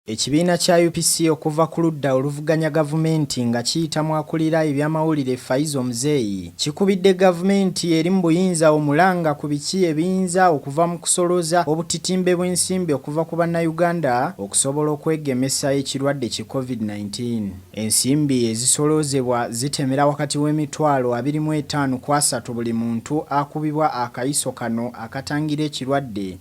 Ekibiina kya UPC okuva ku ludda oluvuganya gavumenti nga kiyita mu akulira ebyamawulire Faizo Muzeeyi kikubidde gavumenti eri mu buyinza omulanga ku biki ebiyinza okuva mu kusolooza obutitimbe bw'ensimbi okuva ku bannayuganda okusobola okwegemesa ekirwadde ki Covid nineteen. Ensimbi ezisoloozebwa zitemera wakati w'emitwalo abiri mu etaano ku asatu buli muntu akubibwa akayiso kano akatangira ekirwadde.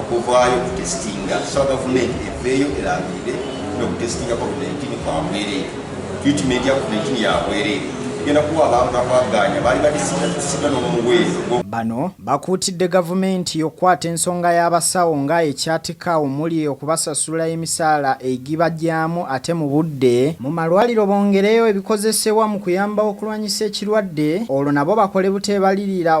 okuvaayo okutesitinga tusaba gavumenti eveeyo erangirire nokutesitinga covid-19 kwabwereere tritimenti ya covid-19 yabwereere egenda kuwa abantu akwaganya baali batesigatesiga n'omuweezo bano bakuutidde gavumenti okukwata ensonga y'abasawo nga ekyatika omuli okubasasula emisaala egibajyamu ate mu budde mu malwaliro bongereyo ebikozesebwa mu kuyamba okulwanyisa ekirwadde olwo nabo bakole buteebalirira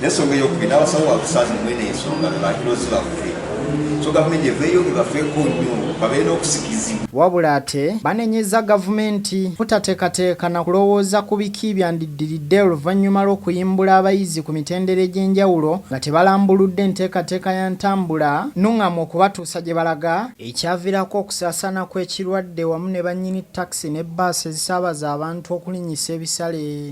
nensonga eyokubiri nabasawo babusaze mwene ensonga bebakirozi baffe so gavumenti eveeyo ebafeeko nnyo babeere n'okusikizi wabula ate banenyeza gavumenti butateekateeka na kulowooza ku biki byandiddiridde oluvannyuma lw'okuyimbula abayizi ku mitendera egy'enjawulo nga tebalambuludde enteekateeka ya ntambula nuŋŋamu okubatuusa gye balaga ekyavirako okusaasaana kw'ekirwadde wamu ne bannyini takisi ne bbaasi ezisaabaza abantu okulinnyisa ebisale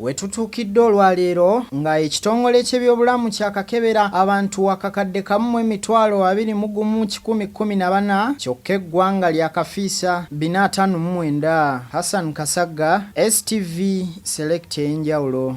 wetutuukidde olwaleero nga ekitongole ky'ebyobulamu kyakakebera abantu wakakadde kamu mu emitwalo abiri mu gumu kikumi kkumi na bana kyokka eggwanga lyakafiisa bina ataano mu mwenda hassan kasagga stv selekta ey'enjawulo